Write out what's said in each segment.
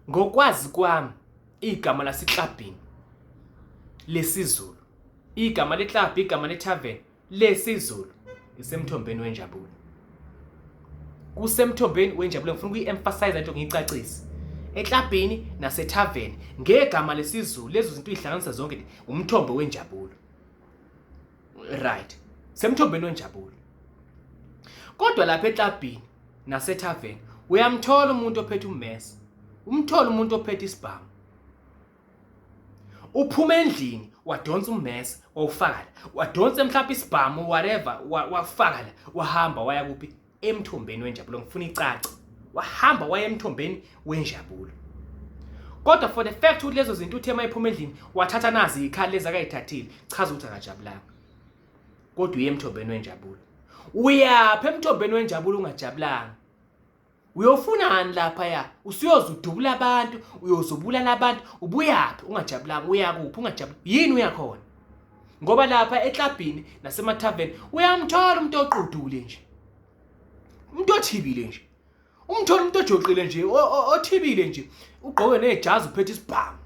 Ngokwazi kwami igama laseklabhini lesiZulu, igama leklabhu, igama lethaveni lesiZulu isemthombeni wenjabulo. Kusemthombeni wenjabulo ngifuna ukuyi-emphasize into ngiyicacise. Eklabhini nasethaveni ngegama lesiZulu lezo zinto uyihlanganisa zonke umthombo wenjabulo. right semthombeni wenjabulo kodwa lapha eklabhini nasethaveni uyamthola umuntu ophethe ummesa umthola umuntu ophethe isibhamu uphuma endlini wadonsa ummesa wawufaka la wadonsa mhlawumbe isibhamu whatever wafaka la wahamba waya kuphi emthombeni wenjabulo ngifuna icace wahamba waya emthombeni wenjabulo kodwa for the fact ukuthi lezo zinto uthe mayiphuma endlini wathatha nazi ikhali lezi akayithathile chaza ukuthi akajabulanga kodwa uye emthombeni wenjabulo uyaphi emthombeni wenjabulo ungajabulanga uyofunani lapha ya usuyoze udubula abantu uyozubulala abantu ubuyaphi ungajabulanga uyakuphi ungajabula yini uyakhona ngoba lapha eklabhini nasemathaveni uyamthola umuntu oqudule nje umuntu othibile nje umthola umuntu ojoqile nje othibile nje ugqoke nejazi uphethe isibhamu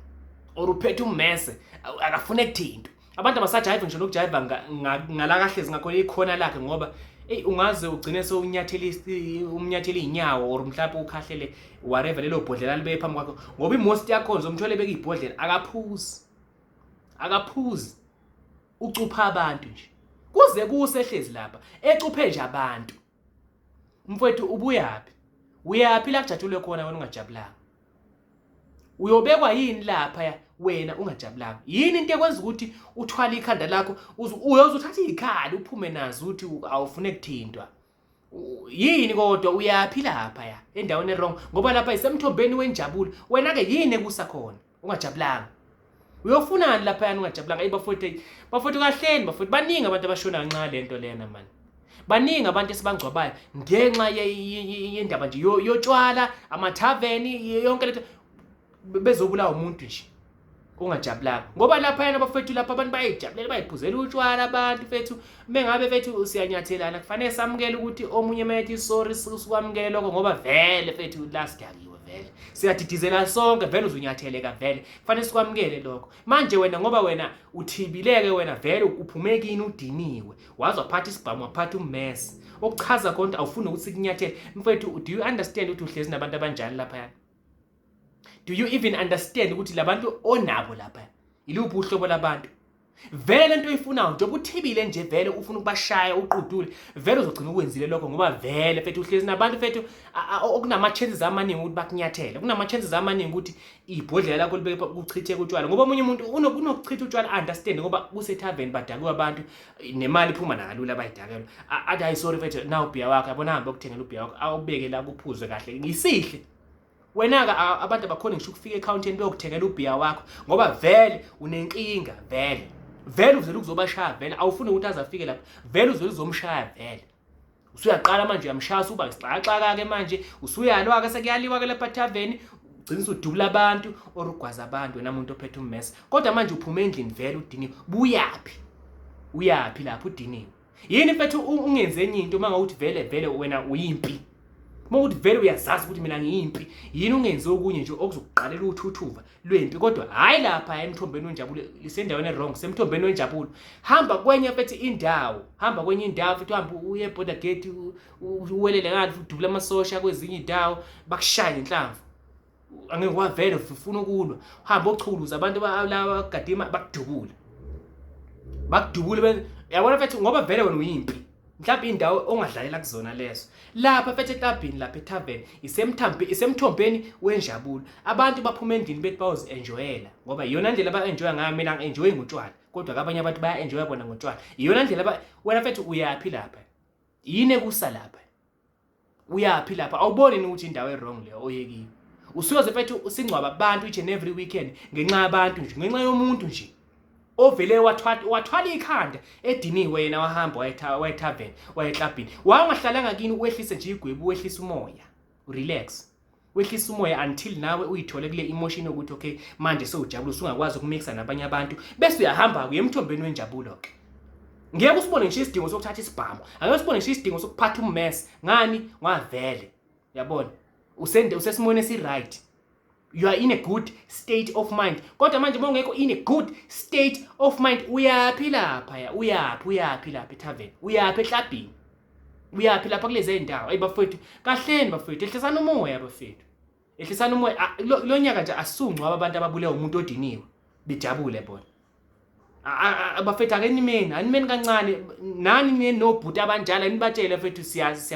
or uphethe ummese akafune kuthinto abantu abasajayiva ngisho nokujayiva ngala kahle zingakho ikhona lakhe ngoba eyi ungaze ugcine sewunyathela umnyathela iy'nyawo or mhlawumpe ukhahlele whatever lelo bhodlela libe phambi kwakho ngoba imosti yakhona zomthole beka ibhodlela akaphuzi akaphuzi ucupha abantu nje kuze kuse ehlezi lapha ecuphe nje abantu mfowethu ubuyaphi uyaphi la kujatshulwe khona wena ungajabulanga uyobekwa yini lapha ya wena ungajabulanga yini into ekwenza ukuthi uthwale ikhanda lakho uyoze uthathe izikhali uphume nazo ukuthi awufune kuthintwa yini kodwa uyaphi lapha ya endaweni erong ngoba lapha isemthombeni wenjabulo wena-ke yini ekusa khona ungajabulanga uyofunani lapha yani ungajabulanga eyi bafowethu eyi bafowethu kahleni bafowethu baningi abantu abashona kanxa le nto lena mani baningi abantu esibangcwabayo ngenxa yendaba nje yotshwala amathaveni yonke le nto bezobulawa umuntu nje ungajabulanga ngoba laphayana abafethu lapha abantu bayayijabulela bayiphuzela utshwala abantu fethu mengabe fethu siyanyathelana kufanele samukele ukuthi omunye methi sorry sikwamukele lokho ngoba vele fethu la sidakiwe vele siyadidizela sonke vele uzunyatheleka vele kufanele sikwamukele lokho manje wena ngoba wena uthibileke wena vele uphumekini udiniwe waze waphatha isibhamu waphatha ummesi okuchaza konke awufuni ukuthi kunyathele mfethu do you understand ukuthi uhlezi nabantu abanjani laphayana do you even understand ukuthi labantu onabo lapha iluphi uhlobo labantu vele lento oyifunayo njengoba uthibile nje vele ufuna ukubashaya uqudule vele uzogcina ukwenzile lokho ngoba vele fethu uhlezi nabantu fethu okunama-chances amaningi ukuthi bakunyathele kunama-chances amaningi ukuthi ibhodlela lakho libeke kuchitheke utshwala ngoba omunye umuntu unokuchitha utshwala understand ngoba kusethaveni badakiwe abantu nemali iphuma nakalula abayidakelwa athi hayi sorry mfethu na ubhiya wakho yabona hambe okuthengela ubhiya wakho awubeke la kuphuze kahle ngisihle wena-ke abantu abakhona ngisho ukufika ekhawuntini beyokuthengela ubhiya wakho ngoba vele unenkinga vele vele uvele ukuzobashaya vele awufuni ukuthi aze afike lapho vele uvele uzomshaya vele usuyaqala manje uyamshaya usuba isixakaxaka ke manje usuyalwa ke sekuyaliwa ke lapha taveni ugcina usudubula abantu or ugwaza abantu wena muntu ophethe ummesa kodwa manje uphuma endlini vele udiniwe buyaphi uyaphi lapho udiniwe yini mfethu ungenze enye into uma ngawuthi vele vele wena uyimpi uma ukuthi vele uyazazi ukuthi mina ngiyimpi yini ungenze okunye nje okuzokuqalela uthuthuva lwempi kodwa hhayi lapha emthombeni wenjabulo lisendaweni erong semthombeni wenjabulo hamba kwenye fethi indawo hamba kwenye indawo futhi uhambe uye border gate uwelele ngale futhi udubule amasosha kwezinye iy'ndawo bakushaye ngenhlamvu angeke wavele ufuna ukulwa uhambe ochuluza abantu laba bagadima bakudubule bakudubule yabona fethi ngoba vele wena uyimpi mhlawumbe indawo ongadlalela kuzona lezo lapha fethe etabhini lapha etavern isemthambi isemthombeni wenjabulo abantu baphuma endlini bethi bayozi enjoyela ngoba iyona ndlela ba enjoy ngayo mina ngi enjoy ngotshwala kodwa kabanye abantu baya enjoy bona ngotshwala iyona ndlela ba wena fethu uyaphi lapha yini ekusa lapha uyaphi lapha awuboni ni ukuthi indawo ewrong leyo oyekiyo usuyoze mfethu usingcwaba abantu each and every weekend ngenxa yabantu nje ngenxa yomuntu nje ovele wathwala ikhanda ediniwe yena wahamba wayetavern wayeclubhini wawungahlalanga kini uwehlise nje igwebu wehlisa umoya relax wehlisa umoya until nawe uyithole kule emotion yokuthi okay manje sewujabula usungakwazi ukumixer nabanye abantu bese uyahamba kuye emthombeni wenjabulo ke ngeke usibone ngisho isidingo sokuthatha isibhamu angeke usibone ngisho isidingo sokuphatha ummess ngani ngavele yabona usende usesimweni esiright you are in a good state of mind kodwa manje uma ungekho in a good state of mind uyaphi lapha ya uyaphi uyaphi lapha ethaveni uyaphi ehlabhini uyaphi lapha kulezi zindawo ayi bafowethu kahleni bafowethu ehlisana umoya bafowethu ehlisana umoya ah, lo nyaka nje asungcwa abantu ababulewe umuntu odiniwe bejabule bona bafethu akenimeni animeni kancane nani nenobhuti abanjalo anibatshele fethu siyaxolisa